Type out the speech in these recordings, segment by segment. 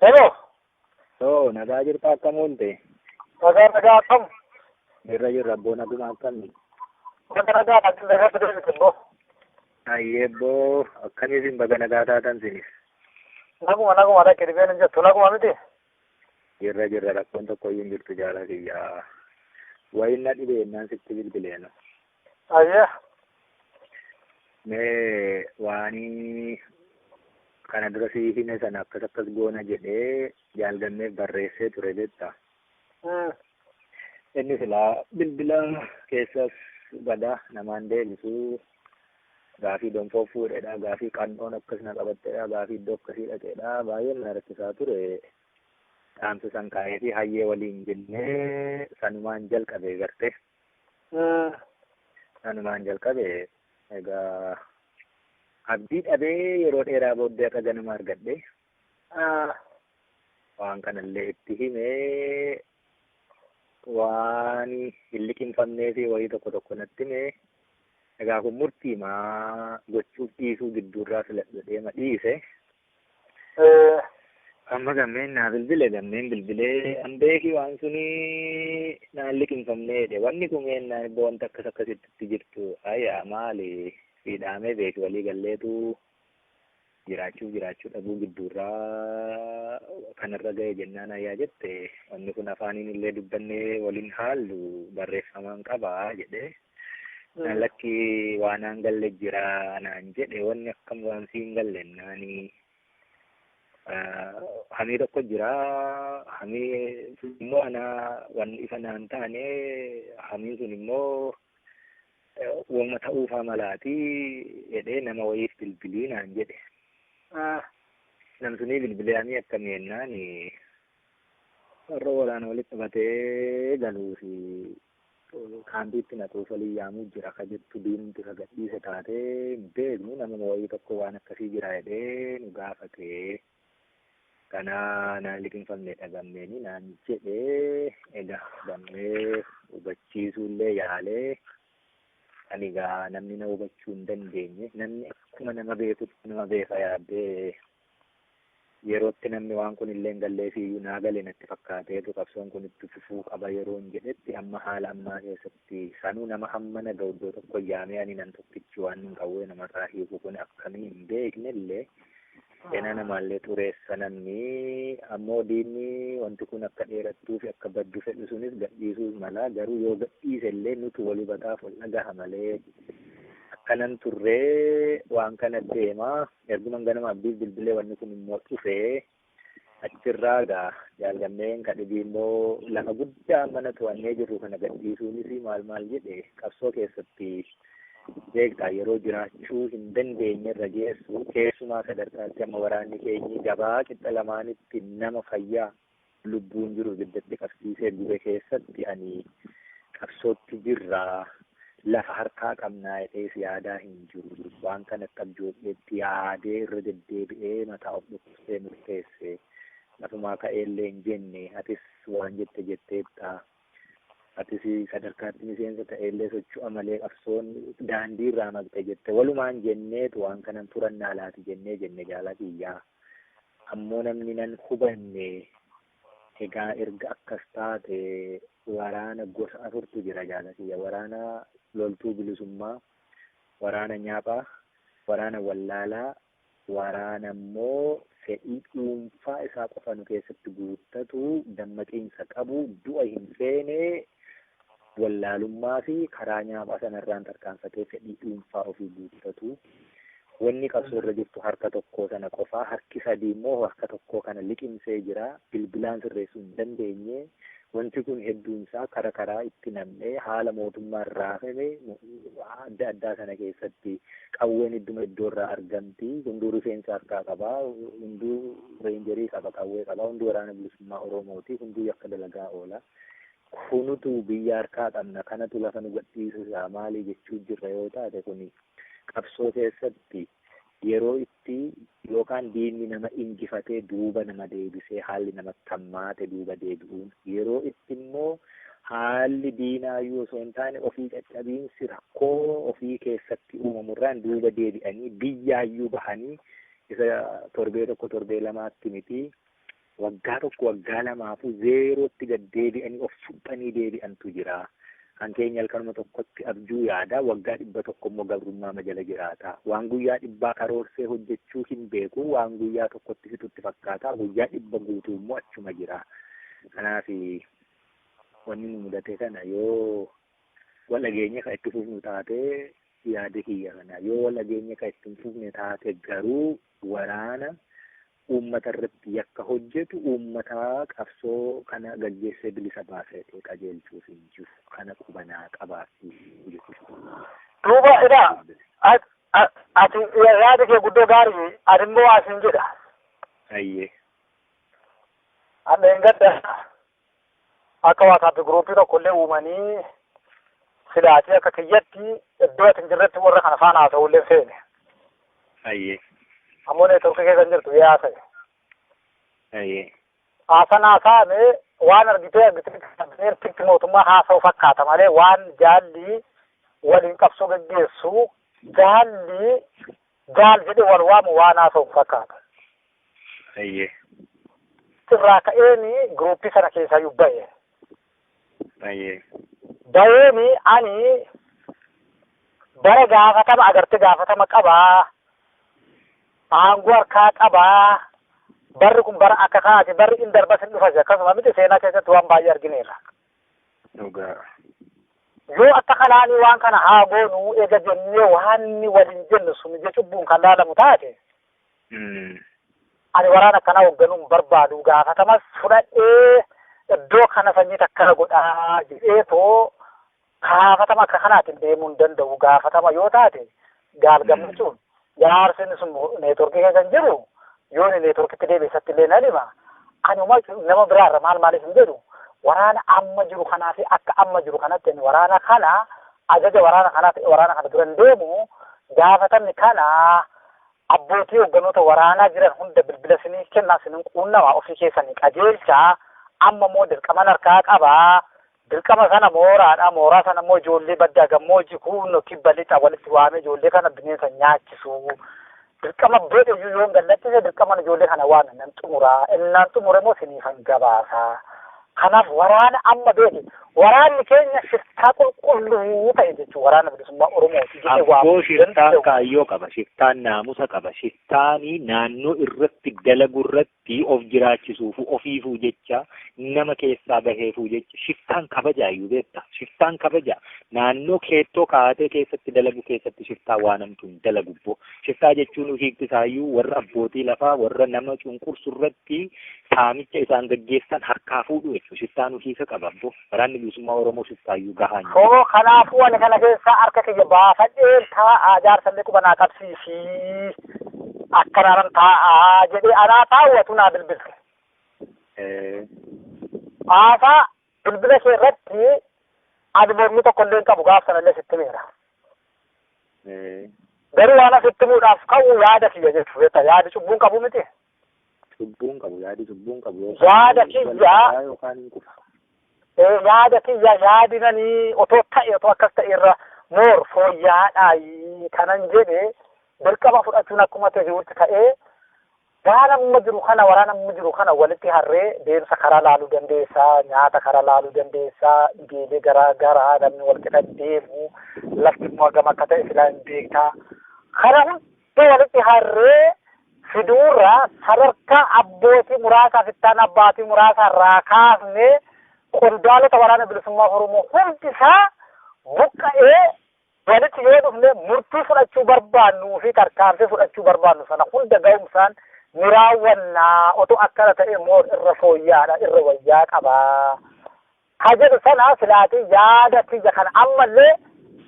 Hello. Too nagaa jirta akkam olte? Nagaa nagaa akkam? Jirra jirra abboo naguma akkamni? Naga nagaa ati nagaa fidee miti boo. Ayyee abboo akkamii isin baga nagaa taatan sinis? Naguma naguma dhaqe dhibeen hin jettu naguma miti. Jirra jirra rakkoon tokko iyyuu hin jirtu jaalaa kiyyaa. Wayin na dhibeennaan sitti bilbileena. Ayyee. Mee waanii kana dura sii hime sana akkas akkas goona jedhee jaalganneef barreessee ture jetta. Hmm. Inni silaa bilbila keessas bada namaan deebisu gaafii donfoo fuudhedha gaafii qannoon akkas na qabattedha gaafii iddoo akkasii dhaqedha baay'ee na rakkisaa ture. Dhaamsa san kaa'ee fi hayyee waliin jennee sanumaan jalqabe garte. Sanumaan jalqabe egaa abdii dhabee yeroo dheeraa booddee akka ganama argadhe waan kanallee itti himee waan hin liqimfamnee fi wayii tokko tokko natti himee egaa kun murtiimaa gochuuf dhiisuu gidduurraa filadhu deema dhiise Eh, Amma gammeen naa bilbile gammeen bilbilee an beeki waan suni naan liqimfamne jedhe wanni kun ennaan iddoo wanta akkas akkasitti jirtu ayyaa maali sii dhaamee beeki walii galleetu jiraachuu jiraachuu dhabuu gidduurraa kanarra ga'e jennaan ayyaa jette wanni kun afaaniin illee dubbannee waliin haallu barreeffamaan qabaa jedhee lakki waanaan galle jira naan jedhe wanni akkam waan siin galle naani hamii tokko jira hamii immoo ana waan ifa naan taane hamii sun immoo wama ta'uufaa malaati jedhee nama wayiif bilbilii naan jedhe namsunii bilbilee hamii akkamii jennaan warra waraana walitti qabatee galuu fi kaampiitti na koofalii yaamuu jira ka jettu diinumti ka gadhiise taate hin beeknu namuma wayii tokko waan akkasii jira jedhee nu gaafate kanaa naan liqinfamne dhagamneeni naan jedhe ega gammee hubachiisuullee yaalee ani gaa namni na hubachuu hin dandeenye namni akkuma nama beekutti nama beeka yaaddee yerootti namni waan kun illee hin galleefii iyyuu naa gale natti fakkaateetu qabsoon kun itti fufuu qaba yeroon jedhetti amma haala ammaa keessatti sanuu nama hammana ga'u iddoo tokko yaamee ani nan tokkichi waan hin qawwee namarraa hiiku kun akkamii hin beekne illee seenaa namaallee xureessa namni ammoo diinni wanti kun akka dheerattuu fi akka baddu fedhu sunis gadhiisuus mala garuu yoo gadhiise illee nutu wal hubataaf wal dhagaha malee akkanan turree waan kana deemaa Erguman ganama Abdiif bilbilee wanni kun immoo dhufee achirraa gaa jaalgammeen ka dhibii immoo lafa guddaa mana to'annee jirru kana gadhiisuunis maal maal jedhe qabsoo keessatti beektaa yeroo jiraachuu hin dandeenye irra geessu keessumaa sadarkaatti amma waraanni keenyi gabaa qixxa lamaanitti nama fayyaa lubbuun jiru ibiddatti qabsiisee gube keessatti ani qabsootti jirra lafa harkaa qabnaa jedhees yaadaa hin jiru. Waan kana akka abjoodheetti yaadee irra deddeebi'ee mataa of dhukkubsee murteesse. Lafumaa ka'eellee hin jenne atis waan jette jetteetta Atis sadarkaatti miseensa ta'eellee socho'a malee qabsoon daandii irraa maqxe jette. Walumaan jenneetu waan kanan furannaa laati jennee jenne jaala kiyyaa. Ammoo namni nan hubanne egaa erga akkas taate waraana gosa afurtu jira jaala kiyya. Waraana loltuu bilisummaa, waraana nyaaphaa, waraana wallaalaa, Waraana immoo fedhii dhuunfaa isaa qofa nu keessatti guuttatu, dammaqiinsa qabu, du'a hin feene, wallaalummaa fi karaa nyaaphaa sana irraan tarkaanfatee fedhii dhuunfaa ofii guuttatu. Wanni qabsoo irra jirtu harka tokkoo sana qofaa, harki sadii immoo harka tokkoo kana liqimsee jira. Bilbilaan sirreessuu hin dandeenye, Wanti kun hedduun isaa kara karaa itti nam'ee haala mootummaan raafame adda addaa sana keessatti qawween idduma iddoo irraa argamti. Hunduu rifeensa harkaa qaba. Hunduu reenjerii qaba, qawwee qaba. Hunduu waraana bilisummaa Oromooti. Hunduu yakka dalagaa oola. Kunutu biyya harkaa qabna. Kanatu lafa nu gadhiisisa. Maali jechuu jirra yoo taate kuni qabsoo keessatti Yeroo itti yookaan diinni nama injifatee duuba nama deebisee haalli namatti hammaate duuba deebi'uun, yeroo itti immoo haalli diinaayyuu osoo hin taane ofii caccabiinsi rakkoo ofii keessatti uumamu irraan duuba deebi'anii biyyaayyuu bahanii isa torbee tokko torbee lamaatti miti Waggaa tokko waggaa lamaafuu zeerootti gad deebi'anii of suphanii deebi'antu jira. Kan keenya halkanuma tokkotti abjuu yaada, waggaa dhibba tokko immoo gabrummaama jala jiraata. Waan guyyaa dhibbaa karoorsee hojjechuu hin beeku, waan guyyaa tokkotti fixu itti fakkaata, guyyaa dhibba guutuu immoo achuma jira. Kanaaf wanni nu mudate kana yoo wal dhageenye kan itti fufnu taate yaada kiyya kana. Yoo wal dhageenye kan itti hin fufne taate garuu waraana Uummata irratti yakka hojjetu uummata qabsoo kana gaggeessee bilisa baasee qajeelchuuf hin jiru. Kana qubanaa qabaadhu jechuudha. Duuba ilaa, at, at, ati ya- yaada kee guddoo gaari'i. Ani immoo waa siin jedha. Hayyee. Hadha hin gadda. akka waasaappii guruupii tokkollee uumanii silaatii akka kiyyatti iddoo ati hin jirretti warra kana faana haasa'ullee hin feene. Ayyee. Ammoo neetworkii keessa hin jirtu yaa haasa'e. Ayyee. Haasan haasa'ame waan argitee argitee kabineertitti mootummaa haasa'u fakkaata malee waan jaalli waliin qabsoo geggeessu jaalli Jaal jedhee wal waamu waan haasa'u fakkaata. Ayyee. Irraa ka'een giruuppii sana keessaayyuu ba'e. Ayyee. Ba'een ani bara gaafatama agartee gaafatama qabaa aangoo harkaa qabaa barri kun bara akka kaati barri in darbas in dhufas akkasuma miti seenaa keessatti waan baay'ee argineerra. dhugaa. Yoo akka kanaanii waan kana haa goonu ega jennee waanni waliin jennu sun ija cubbuun kan laalamu taate, Mm. ani waraana akkanaa hoogganuu hin barbaadu gaafatamas fudhadhee iddoo kana sanyii takkana godhaa jedhee too gaafatama akka kanaatiin deemuu hin danda'u gaafatama yoo taate gaal gammachuun Jaarsi inni sun neetworkii keessa hin jiru yoo inni neetworkitti deebi'e isatti illee nan hima. Ani uma nama biraarra maal maaliif hin jedhu waraana amma jiru kanaa fi akka amma jiru kanatti ani waraana kana ajaja waraana kanaa ta'e waraana kana dura hin deemu gaafatamni kana abbootii hogganoota waraanaa jiran hunda bilbila sinii kennaa sinin quunnamaa ofii keessanii qajeelchaa amma immoo dirqaman harkaa qabaa Dirqama sana mooraadha. Mooraa sana immoo ijoollee baddaa gammoojji kuunno kibba lixa walitti waamee ijoollee kana bineensa nyaachisuu. Dirqama beedhe iyyuu yoon gallattise dirqaman ijoollee kana waame nan xumuraa. Innaan xumure immoo siniifan gabaasaa. Kanaaf waraana amma beeke waraanni keenya shiftaa qulqulluu ta'e jechuun waraana bilisummaa Oromooti jedhee Abboo waamuu shiftaan danda'u. kaayyoo qaba, shiftaan naamusa qaba, shiftaanii naannoo irratti dalagu irratti fi of jiraachisuufuu ofiifuu jecha nama keessaa baheefuu jecha shiftaan kabajaayyuu beektaa shiftaan kabajaa naannoo keettoo kaa'atee keessatti dalagu keessatti shiftaa waan hamtuu hin dalagu boo shiftaa jechuun hiikti isaayyuu warra abbootii lafaa warra nama cunqursu irratti saamicha isaan gaggeessan harkaa fuudhu jechuudha shiftaan hiika qaba boo Waraanni Bilisummaa Oromoo shuftaayyuu gahaa hin jiru. Hoo kanaafuu ani kana keessaa harka kiyya baafadheen taa'aa jaarsallee quba naa qabsiisii akkanaanan taa'aa jedhee anaa taawwatu naa bilbilte. Eh, Haasaa bilbila ishee irratti ani mormii tokko illee hin qabu gaaf sanallee sitti miira. eh, Garuu waan asitti muudhaaf ka'u yaada kiyya jechuudha. Yaadi cubbuun qabu miti. Cubbuun qabu yaadi cubbuun qabu yookaan Yaada immoo kiyya- balleessaa yookaan hin kufa. Ee, yaada kiyya yaadi nani otoo ta'e otoo akkas ta'e irra moor fooyya'aadhaa kanan jedhe dirqama fudhachuun akkuma ta'e jirutti ta'ee waan amma jiru kana waraana amma jiru kana walitti harree deemsa karaa laaluu dandeessa nyaata karaa laaluu dandeessa dhibeelee garaa garaa namni wal qixa deemu lafti immoo hagam akka ta'e silaa hin beektaa kana hunda Iddoo walitti harree fiduurraa sadarkaa abbootii muraasaa fi itti aanaa abbaatii muraasaa irraa kaafnee qondaalota waraana bilisummaa Oromoo hundi isaa buqqa'ee walitti yoo dhufne murtii fudhachuu barbaannuu fi tarkaanfii fudhachuu barbaannu sana hunda ga'umsaan ni raawwannaa otoo akkana ta'e moo irra fooyyaadha irra wayyaa qabaa ka jedhu sana silaatii yaada kiyya kana ammallee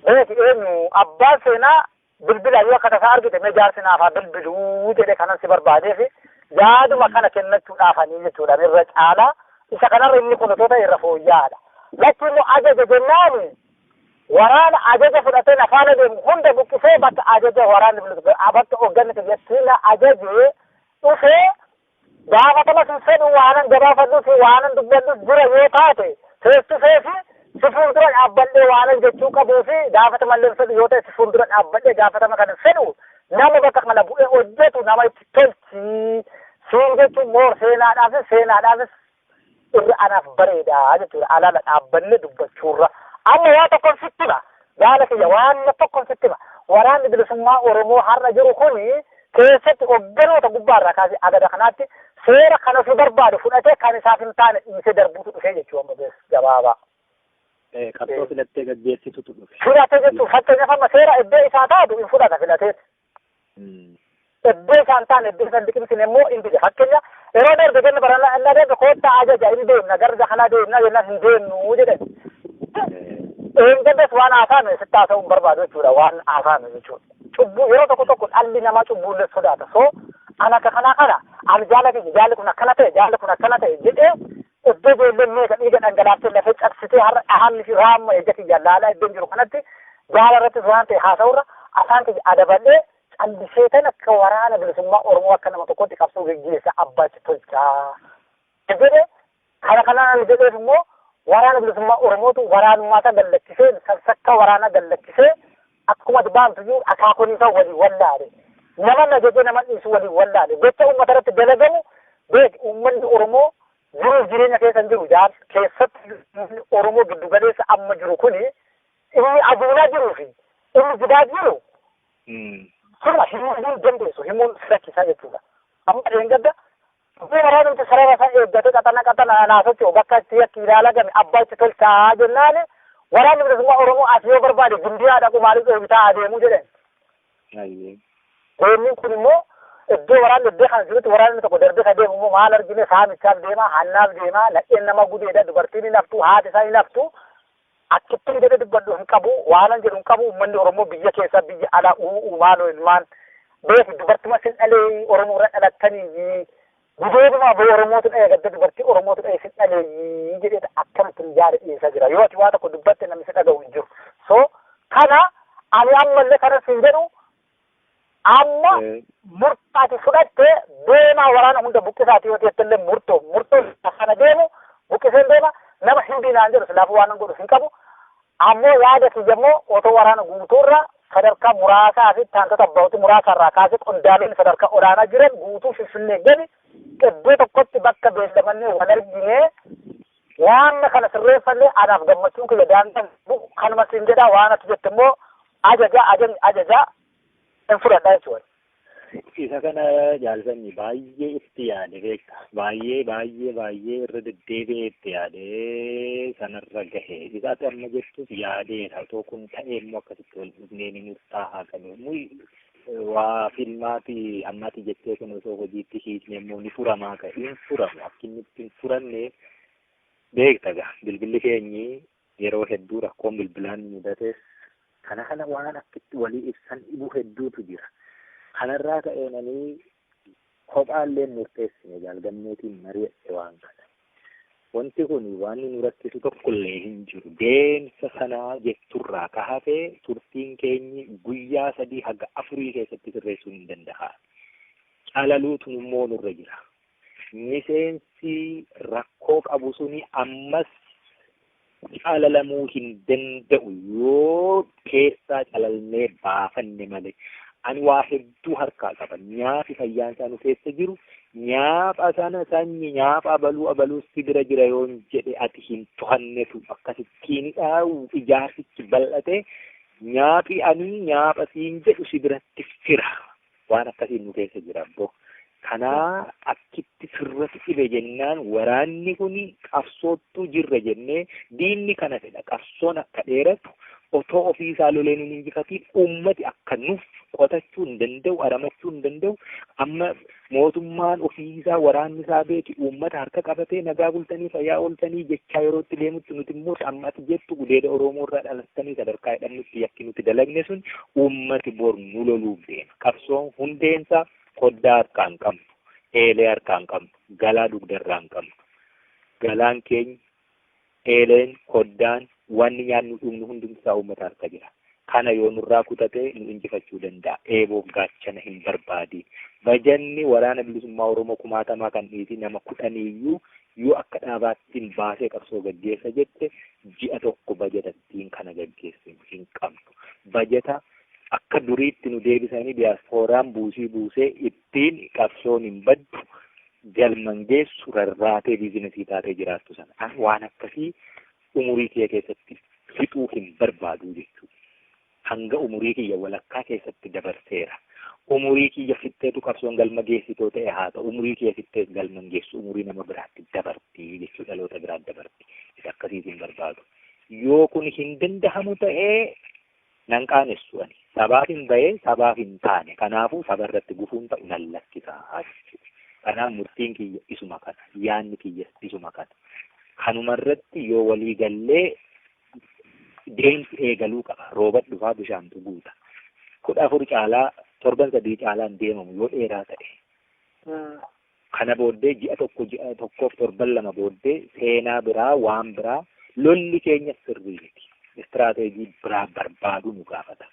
beeki eenyu abbaan seenaa Bilbilaa yoo akka tasaa argite mee jaarsi naaf haa bilbiluu jedhe kanan si barbaadeefi yaaduma kana kennachuudhaafanii jechuudha irra caalaa isa kanarra inni kun otoo ta'e irra fooyya'aadha. Latti immoo ajaja jennaani waraana ajaja fudhatee na faana deemu hunda buqqisee bakka ajaja waraanni bilisummaa bakka hoogganni biyyattii na ajajee dhufee Gaafatamas hin fedhu waanan gabaafadhuu fi waanan dubbadhus jira yoo taate face to face si fuuldura dhaabbadhee waanan jechuu qabuu fi gaafatamallee hin fedhu yoo ta'e si fuuldura dhaabbadhee gaafatama kana hin fedhu nama bakka kana bu'ee hojjetu nama itti tolchi siin jechuun moor seenaadhaafis seenaadhaafis irra anaaf bareeda jechuudha alaala dhaabbanne dubbachuurra amma waa tokkon sitti hima gaala kiyya waan tokkon sitti hima waraanni bilisummaa oromoo har'a jiru kun keessatti hogganoota gubbaarraa kaasee agada kanaatti seera kan ofii barbaadu fudhatee kan isaaf hin taane dhiisee darbuutu dhufee jechuudha amma bees gabaabaa. Qabsoo filattee gaggeessitutu dhufe. Filatee jechuun fakkeenyaaf amma seera iddoo isaa taatu hin fudhata filateeti. Iddoo isaan taa'an iddoo isaan liqimsine immoo hin dide. Fakkeenya yeroo darbe ganna baranaa inni adeemsa koottaa ajaja hin deemna gara biyya kanaa deemna jennaan hin deemnu jedhan. Eenyuunis waan haasa'ame sitti haasa'uu hin barbaadu jechuudha waan haasa'ame jechuudha. Cubbuu yeroo tokko tokko dhalli namaa cubbuullee sodaata. So an akka kanaa kana ani jaala kiyya jaalli kun akkana ta'e jaalli kun akkana ta'e jedhee Iddoo ijoolleen meeqa dhiiga dhangalaaftee lafee cabsitee har'a dhahaan fi raamma ija kiyya laalaa iddoon jiru kanatti gaara irrattis waan ta'e haasa'urra afaan kiyya adabadhee callisee tan akka waraana bilisummaa Oromoo akka nama tokkotti qabsoo geggeessa abbaachi tolchaa. Jedhe kana kanaan jedheef immoo waraana bilisummaa Oromootu waraanummaa isaa gallakkisee sansakkaa waraanaa gallakkisee Akkuma dbaan tuyyuu akaakoniisaa waliin wallaale. Naman ajaje naman dhiisu waliin wallaale. Gocha uummata irratti dalagamu beeki. Uummanni Oromoo jiruuf jireenya keessa hin jiru jaal. Keessatti uummanni Oromoo giddu galeessa amma jiru kuni inni aduunaa jiruu fi inni jidaa jiru sirna himuu hin dandeessu. Himuun si rakkisaa jechuudha. Amma dheengadda Dhufee waraana nuti sarara isaa eeggate qaxana qaxana anaa socho'u bakka itti yakki ilaalagame abbaa itti tolchaa jennaan waraanni bilisummaa Oromoo as yoo barbaade gimbiyaa dhaqu maaliif dhoowwitaa adeemuu jedhan. Ayyee. Goonni kun immoo iddoo waraanni iddoo kan jirutti waraanni tokko darbee isa deemu immoo maal argine saamichaaf deema hannaaf deema nadheen nama gudeedha dubartiin hin haftu haati isaa hin haftu Akkittin jedhe dubbadhu hin qabu waanan jedhu hin qabu ummanni oromoo biyya keessa biyya ala uu'u maaloo ilmaan beeku dubartuma sin dhalee oromoo irra dhalattanii gudeeduma boo oromootu dhaye gadda dubartii oromootu dhaye sin dhalee jedheeta akkamittin yaada dhiyeessaa jira yoo ati waa tokko dubbatte namni si dhaga'u hin jiru so kana ani ammallee kanan sin jedhu Amma murtoo ati fudhatte deemaa waraana hunda buqqisaati yoo jette illee murtoo murtoo sana deemu buqqiseen deema nama hindii naan jedhu silaafuu waan godhu hin qabu. Ammoo yaada kiyya immoo otoo waraana guutuurra sadarkaa muraasaa fi taantota abbootii muraasaa irraa kaasee qondaalonni sadarkaa olaanaa jiran guutuu finfinnee gadi iddoo tokkotti bakka beellamannee wal arginee waan kana sirreeffannee anaaf gammachuun kiyya daangaa kanuma siin jedhaa waan ati jette immoo Ajaja ajajni ajajaa hin fudhadha jechuudha. Isa kana jaalsanyi baay'ee itti yaade beekta. Baay'ee baay'ee baay'ee irra deddeebi'ee itti yaadee sanarra gahe. Isa ati amma jettus yaadeedha. Otoo kun ta'ee immoo akkasitti wal dhufnee ni murtaa'aa kan inni waa filmaati ammaati jettee kun osoo hojiitti hiikne immoo ni furamaa kan hin furamu. Akkinni itti hin furanne beekta gaa bilbilli keenyi Yeroo hedduu rakkoon bilbilaa nu mudates kana kana waan akka itti walii ibsan dhibu hedduutu jira. Kanarraa ka'een ani kophaallee hin murteessine Jaal Gammeetiin mari'adhe waan kana. Wanti kun waan nu rakkisu tokkollee hin jiru. Deemsa sanaa jetturraa ka hafe turtiin keenyi guyyaa sadii haga afurii keessatti sirreessuun hin danda'aami. Calaluutu immoo nurra jira. miseensi rakkoo qabu suni ammas calalamuu hin danda'u yoo keessaa calalnee baafanne malee. Ani waa hedduu harkaa qaba. Nyaafi fayyaan isaa nu keessa jiru nyaapha sana sanyi nyaapha abaluu abaluu si bira jira yoon jedhe ati hin tohannetu akkasittiinidha ijaarsichi bal'ate nyaaphi ani nyaapha siin jedhu si biratti fira. Waan akkasii nu keessa jira abbo. Kanaa akkitti sirratti dhibe jennaan waraanni kun qabsoottuu jirra jennee diinni kana fedha qabsoon akka dheeratu otoo ofii isaa lolee nun injifatiin uummati akka nuf qotachuu hin danda'u aramachuu hin danda'u amma mootummaan ofii isaa waraanni isaa beeki uummata harka qabatee nagaa bultanii fayyaa ooltanii jechaa yeroo itti deemutti nuti immoo amma ati jettu gudeeda Oromoo irraa dhalattanii sadarkaa jedhamnutti yakki nuti dalagne sun Uummati bor nu loluuf deema. Qabsoon hundeensaa koddaa harkaa hin qabnu, eelee harkaa hin qabnu, galaa dugdarraa hin qabnu. Galaan keenya, eeleen, koddaan, wanni nyaannu dhugnu hundumtisaa uummata harka jira. Kana yoo nurraa kutate nu injifachuu danda'a. Eeboof gaachana hin barbaadiin. Bajanni Waraana Bilisummaa Oromoo kumaatamaa kan dhiisii nama kudhaniiyyuu Yoo akka dhaabaattin baasee qabsoo gaggeessa jette ji'a tokko bajata ittiin kana gaggeessinu hin qabnu. Bajata akka duriitti nu deebisanii diyaaspooraan buusii buusee ittiin qabsoon hin baddu, galma hin geessu, rarraatee biizinasii taatee jiraattu sana. An waan akkasii umurii kiyya keessatti fixuu hin barbaadu jechuudha. Hanga umurii kiyya walakkaa keessatti dabarseera. Umurii kiyya fixxeetu qabsoon galma geessi too ta'e haa ta'u umurii kiyya fixxees galma hin geessu umurii nama biraatti dabarti jechuu dhaloota biraatti dabarti isa akkasiitu hin barbaadu. Yoo kun hin dandahamu ta'e nan qaanessu ani sabaaf hin bahee sabaaf hin taane kanaafuu saba irratti gufuun ta'u nan lakkisa jechuudha. Kanaaf murtiin kiyya isuma kana yaanni kiyyas isuma kana. Kanuma irratti yoo walii gallee deemsi eegaluu qaba. Roobat dhufaa bishaantu guuta. Kudha afur caalaa torban sadii caalaan deemamu yoo dheeraa ta'e. Kana booddee ji'a tokko ji'a tokkoof torban lama booddee seenaa biraa waan biraa lolli keenya sirrii miti. Istiraateejii biraa barbaaduu nu gaafata.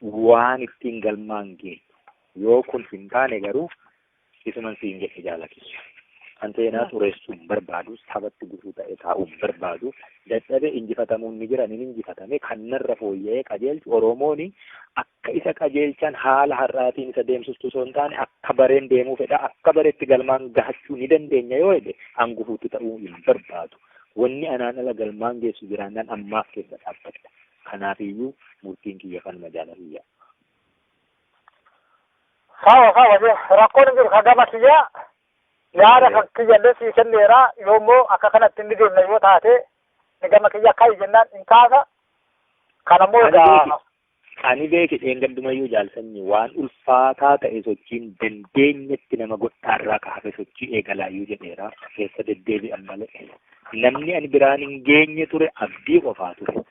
Waan ittiin galmaan geenyu. Yoo kun hin taane garuu Isuman siin jedhe jaala kiyya. Kan seenaa xureessuu hin barbaadu, sabatti gufuu ta'e taa'uu hin barbaadu. Dadhabee injifatamuun ni jira, nin injifatame. Kan narra fooyya'ee qajeelchu Oromooni akka isa qajeelchan haala har'aatiin isa deemsistu osoo hin taane akka bareen deemuu fedha. Akka bareetti galmaan gahachuu ni dandeenya yoo jedhe an gufuutti ta'uu hin barbaadu. Wanni anaan ala galmaan geessu jiraannaan ammaaf keessa dhaabbadha. Kanaafiyyuu murtiin kiyya kanuma jaala kiyya. Sawa sawa je rakkoon hin jiru ka gama kiyya yaada kan kiyya illee sii kenneera yoo immoo akka kanatti inni deemna yoo taate ni gama kiyya akka jennaan hin kaasa kan ammoo Ani egaa beeki. Ani beeki dheengaddumayyuu jaalsanyi waan ulfaataa ta'e sochiin dandeenyetti nama godhaarraa ka hafe sochii eegalaayyuu jedheera keessa deddeebi'an malee namni ani biraan hin geenye ture abdii qofaa ture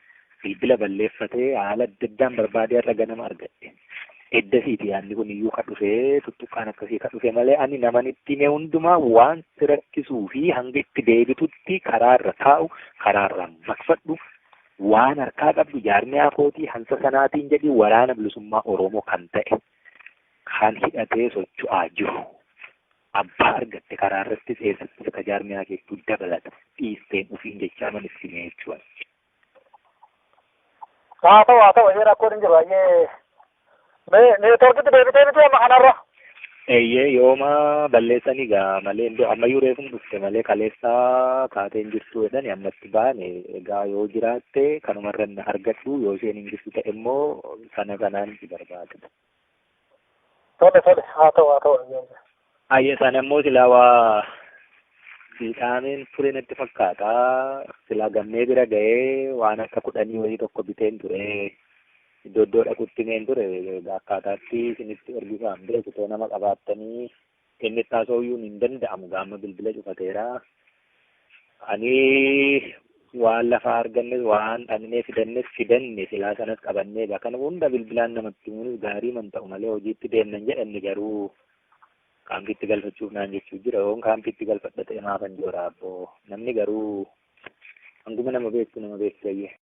Bilbila balleeffatee haala adda addaan barbaadee har'a ganama argadhe. Eddasiiti yaadni kun iyyuu ka dhufe tuttuqqaan akkasii ka dhufe malee ani naman itti hime hundumaa waan si rakkisuu fi hanga itti deebitutti karaa irra taa'u karaa irraa maqfadhu waan harkaa qabdu jaarmiyaa kootii hansa sanaatiin jedhi waraana bilisummaa Oromoo kan ta'e kan hidhatee socho'aa jiru. Abbaa argatte karaa irratti eessatti akka jaarmiyaa keettuu dabalata dhiisteen ofiin jechaa man itti hime jechuudha. haa ta'u haa ta'u eeyyee rakkoon hin jiru eeyyee mee neetworkitti deebitee miti amma kanarra eeyyee yooma balleessanii gaa malee iddoo ammayyuu reefum dhufte malee kaleessaa kaatee hin jirtu jedhani ammatti baane egaa yoo jiraatte kanumarra na argadhu yoo isheen hin jirtu ta'e immoo sana sanaan si barbaada. Tole tole haa ta'u haa ta'u ayyaan jira. Ayya sana immoo silaa waa fiixaameen ture natti fakkaata. Silaa gammee bira ga'ee waan akka kudhanii wayii tokko biteen ture. Iddoo iddoo dhaqutti meen ture akkaataatti isinitti ergisaam beeku too nama qabaattanii kennetti haasa'uyyuun hin danda'amu gaamma bilbila cufateera. Ani waan lafaa argannes waan dhaqnee fidannes fidanne silaa sanas qabannee bakana hunda bilbilaan namatti himuunis gaarii man ta'u malee hojiitti deemnan jedhanne garuu kaampiitti galfachuuf naan jechuu jira yoon kaampiitti galfadha ta'e maafan joora abboo namni garuu hanguma nama beektu nama beektu bayyee.